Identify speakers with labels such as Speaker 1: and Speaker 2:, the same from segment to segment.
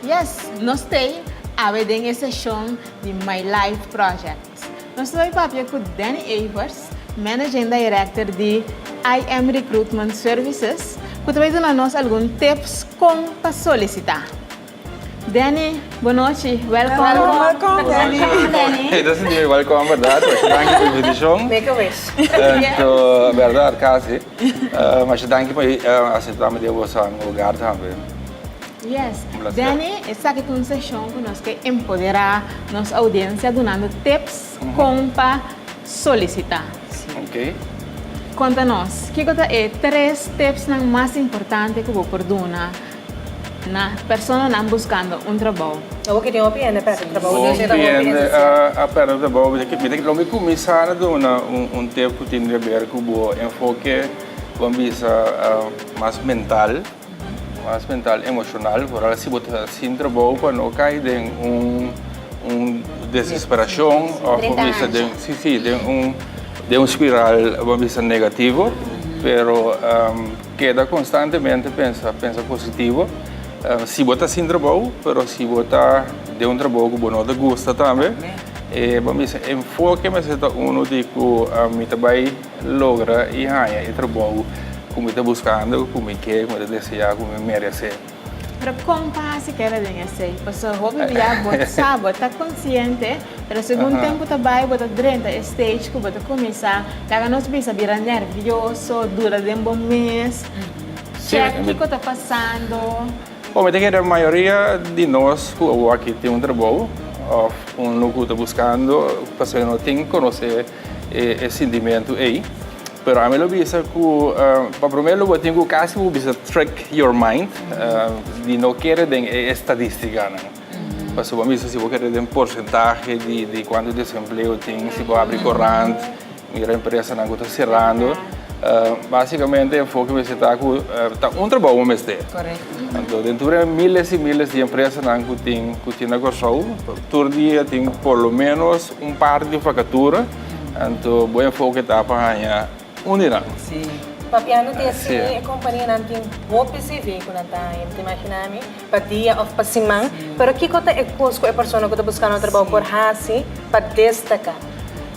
Speaker 1: Yes, nos ta ei awe den e seshon di My Life Project. Nos ta bay papia ku Danny Evers, Managing Director di IM Recruitment Services, ku ta bay duna nos algun tips kon pa solisitá. Danny, Bo nochi. Welkom. Welkom Danny. Ey ta sinti mi welkom berdad. Masha danki pa invitashon. Make a wish. Anto berdad kasi. Masha danki pa aseptami den bosanan hogar tambe. Yes. Un placer. Danny, esaki ta un seshon ku nos ke empoderá nos oudiensia dunando tips kon pa solisitá. Ok. Konta nos, kiko ta e tres tipsnan mas importante ku bo por duna? Na personanan buskando un trabou. Awor ke tin hopi hende a pèrdè trabou i ora hopi hende sia. A pèrdè trabou. Lo mi kuminsá ta duna un tep ku tin ke ber ku bo enfoke ku a bisa mas mental, mas mental emoshonal. Por ejemplo si bo ta hasin trabou pa no kai den un desesperashon òf bo bisa den si, si den un spiral bo a bisa negativo pero. Keda konstantemente pensa, pensa positivo. Si bo ta sin trabou, pero si bo ta den un trabou ku bo no ta gusta tambe, e bo mester enfoke mester ta uno di ku mi ta bai logra i haña e trabou ku mi ta buskando, ku mi ke, ku mi ta deseá, ku mi meresé. Pero kon pa hasi keda den esei? Pasobra hopi bia bo sa bo ta konsiente, pero segun tempu ta bai bo ta drenta e stage ku bo ta kuminsá laga nos bisa bira nervioso, duda den bo mes, chek kiko ta pasando. Bo mi ta kere mayoria di nos ku awor aki tin un trabou òf un logu ta buskando, pasobra no tin konosé. e e sintimentu ei pero ami lo bisa ku pa promé lo bo tin ku kasi bo bisa trick your mind di no kere den e estadístikanan pasobra bo bisa si bo kere den porsentahe di kuantu desempleo tin si bo abri korant mira empresanan ku ta serando básikamente enfoke mester ta ku ta un trabou bo mester anto den tur e miles i miles di empresanan ku tin na Kòrsou tur dia tin por lo menos Un par di vakatura, anto bo enfoke ta pa haña uninan. Sí. Papia no tin así, e kompanianan tin hopi CV ku nan ta haña. Bo ta imaginá mi? Pa dia òf pa siman. Pero kiko ta e kos ku e persona ku ta buskando trabou por hasi pa destaká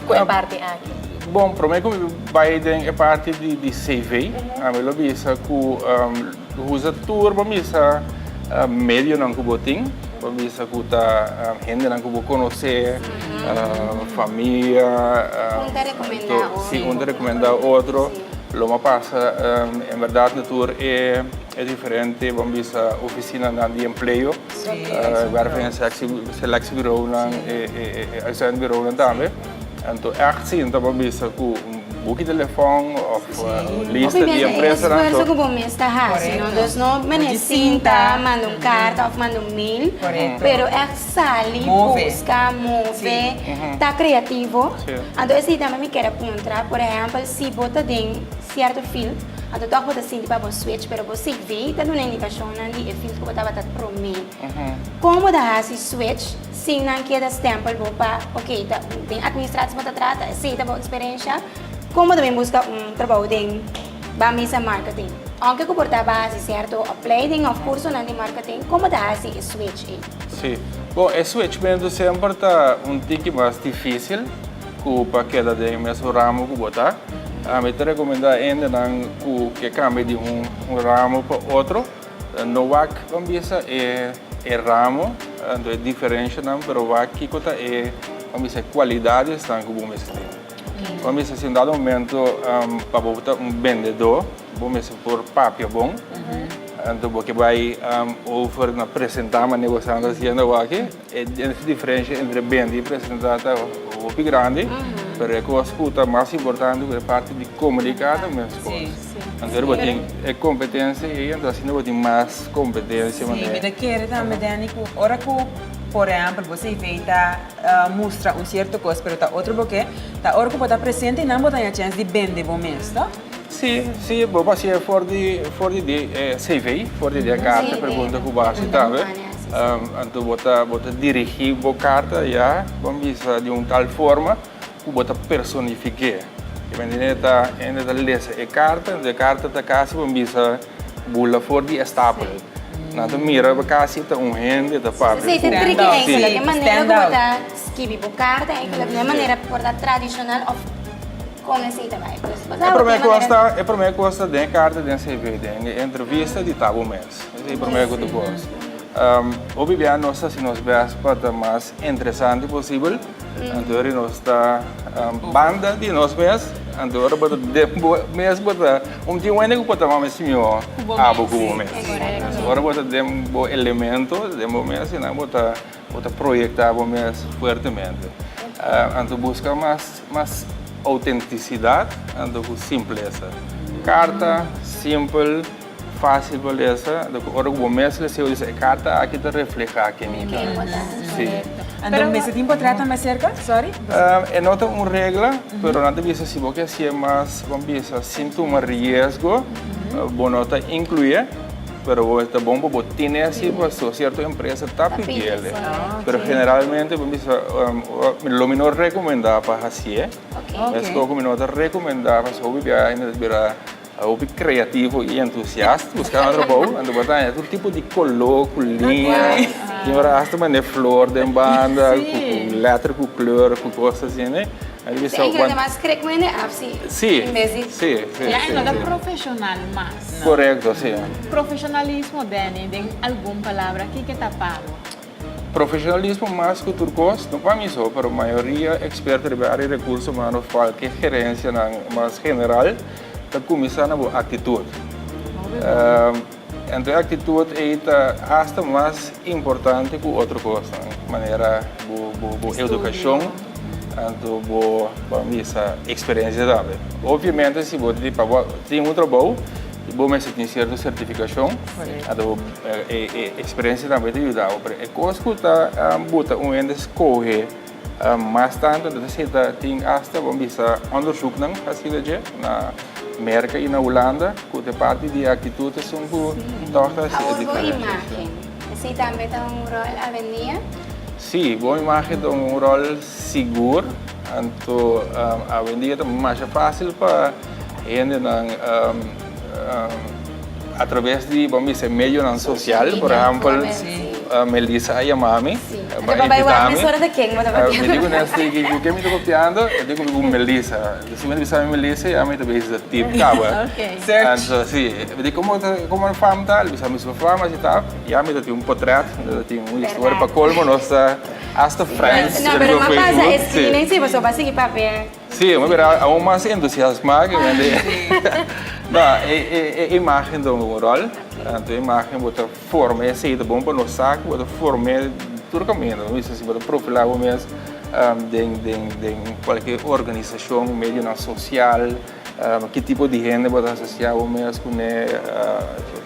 Speaker 1: ku e parti aki? Bon, promé ku mi bai den e parti di CV, mi lo bisa ku. Usa tur bo bisa medionan ku bo tin. Bo bisa ku ta hendenan ku bo konosé, famia. Un ta rekomendá otro. Si, un ta rekomendá otro. Lo mas pasa, en bèrdat, na tur e diferente, bo bisa ofisinanan di empleo, wèrf en insèkt, seleksiebirounan, e uitzendbirounan tambe. Anto echt si no ta pa bisa ku un buki telefòn òf un lista di empresanan. Pasobra e esfuerso ku bo mes ta hasi no. Entonces no menesí ta manda un karta òf manda un mail. Pero echt sali buska, move, ta kreativo. Anto esei tambe mi kere puntra. Por ehèmpel si bo ta den sierto field, anto tòg bo ta sinti pa bo switch pero bo cv ta duna indikashonnan di e field ku bo tabata promé. Como ta haci switch sin nan keda stempel bo pa ok ta den administratie bo ta trata esey ta bo experiencia como ta bin busca un trabou den ba misa marketing aunque cu por ta base cierto opleiding of curso nan di marketing como ta haci e switch ey. Si bon e switch mento semper ta un tiki mas dificil cu pa keda den e mesun ramo cu bo ta ami ta recomenda hendenan cu ke cambia di un ramo pa otro. No wak ban bisa e e ramo anto e diferenshanan pero wak kiko ta e ban bisa e kualidadesnan ku bo mester tin. Ban bisa si un dado momento pa bo ta un bendedó bo mester por papia bon anto bo ke bai over na presentá manera bo estableskiendo awor aki. E diferensha entre bende y presenta ta hopi grandi, pero e cos cu ta mas importante cu e parti di comunica ta mes cos. Anto ora bo tin e competencia ey, anto asina bo tin mas competencia. Si, mi ta kere tambe Danny cu ora cu por ehempel bo CV ta mustra un cierto cos pero ta otro bo ke, ta ora cu bo ta presente y nan bo ta haya chens di bende bo mes, toh. Sí, sí, bo por hacié for di, for di de e CV, for di de carta e pregunta cu bo haci ta haber. Um, anto bo ta, bo ta dirigi bo carta, ya, bo bisa di un tal forma cu bo ta personifiqué. Bo entendé? Ta, hende ta lesa e carta, e carta ta casi bo bisa bula for di e stapel. Nan ta mira bo casi ta un hende ta papia cu. Sí, ta tricky ey, cu loke manera cu bo ta skibi bo carta ey, cu loke manera por ta tradicional of. Con esey ta bay pues. E prome cosa e prome cosa den carta den CV den e entrevista di ta bo mes. Esey e prome cu ta goza. Hopi bia nos ta haci nos best pa ta mas interesante posibel anto ora nos ta banda di nos mes anto ora bo mes bo ta un tin wende cu bo ta mama e simiho abo cu bo mes. Ora bo ta den bo elemento den bo mes y nan bo ta. Bo ta proyecta bo mes fuertemente. Anto busca mas mas autenticidad anto cu simpleza. Carta simpel, facil pa lesa, anto cu ora cu bo mes lesa bo dice e carta aki ta refleha ken mi ta. Si. Anto mester tin por trata mas cerca? Sorry. E no ta un regla, pero nan ta bisa si bo ke haci'e mas, bo bisa, sin tuma riesgo, bo no ta incluye. Pero bo ta bon pa bo tene asi paso cierto empresa ta pidiele. Pero generalmente bo bisa lo mi no recomenda pa hacié. Mesto cu mi no ta recomenda paso hopi bia hende ta bira hopi creativo y entusiasta buscando trabou. Anto bo ta haña tur tipo di color cu liña. Tin ora hasta mane flor den banda cu letter cu kleur cu cos asina. Mi ta bisa. Tin hende ta mas creek cu hende afsi en bes di. Si, si, si. Ya e no ta profesional mas. Korekto, si. Profeshonalismo, Danny, den algun palabra kiko ta pa bo? Profeshonalismo mas ku tur kos, no pa mi so, pero mayoria eksperto riba área di rekurso humano fala ku e gerensianan mas general ta kuminsá na bo aktitut. Anto e aktitut ei ta hasta mas importante ku otro kosnan, manera bo edukashon. Anto bo ban bisa experiencia tambe. Obviamente si bo ta di pa bo tin un trabao y bo mester tin cierto certificacion, anto bo e experiencia tambe ta yuda bo. Pero e cos cu ta buta un hende scoge mas tanto ta seta tin hasta bo bisa onderzoeknan hacida dje na Merca y na Hulanda cu ta parti di e actitud esun cu tog ta haci e diferencia. Sí, tambe ta un rol avenía. Sí, bo imagen ta un rol sigur, anto avendia ta masha fácil pa hendenan a traves di bo mester medionan social, por ehempel Melissa a yamami, a ba invitami, a miri kuné stiki, ku ke mi ta kopiando? Dikubi ku Melissa. Si mi ta bisa mi mi lese ami ta bisa ta tip kaba search si di komo ta komo nan fam ta lo bisa mi su fam asi ta y ami ta tin un potret mi ta tin un historia pa colmo nos ta hasta friends no pero mas pasa e screen en si pasobra bo a sigui papia si bo a mira aun mas entusiasma ke wen di no e e imagen ta un rol anto e imagen bo ta. Forma e aceite bon pa nos sa cu bo ta forme tur caminda. Bo bisa si bo ta profila bo mes den cualkier organisacion, medionan social, ki tipo di hende bo ta asocia bo mes cu ne,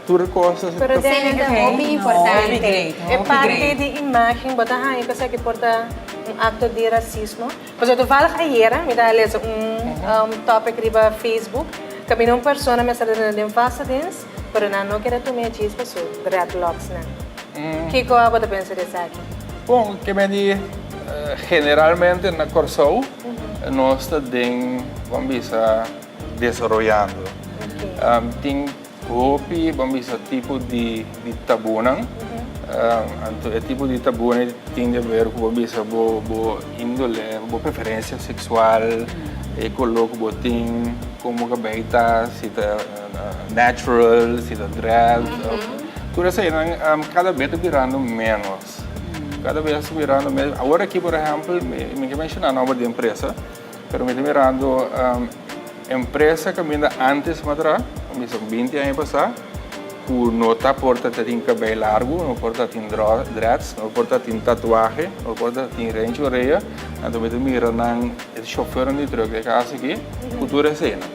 Speaker 1: tur e cos. Pero den hende ta hopi importante. E parti di imagen bo ta haña cu esaki por ta un acto di racismo. Pasobra toevallig ayera mi ta lesa un topic riba Facebook caminda un persona mester ta tene den falsa dens pero nan no kere tume djis pa su dreadlocks nan. Kico bo ta pensa di esaki? Bon, ke men di generalmente na Corsou nos ta den, bon bisa, desaroyando. Tin Hopi bo bisa tipo di di tabunan. Anto e tipo di tabuna ei tin di haber ku bo bisa bo bo indole, bo preferensia seksual, e koló ku bo tin, komo kabei ta, si ta natural, si ta dread. Tur eseinan kada bes ta birando ménos. Kada bes ta birando ménos. Awor aki por ehèmpel mi ke menshoná nòba di empresa. Pero mi ta mirando empresa kaminda antes matra, bisa ku binti aña pasá, ku no ta por ta tin kabei largu, no por ta tin dreads, no por ta tin tatuahe, no por ta tin renchi orea, anto mi ta mira nan, e shofèrnan di trùk di e kasa aki, ku tur eseinan.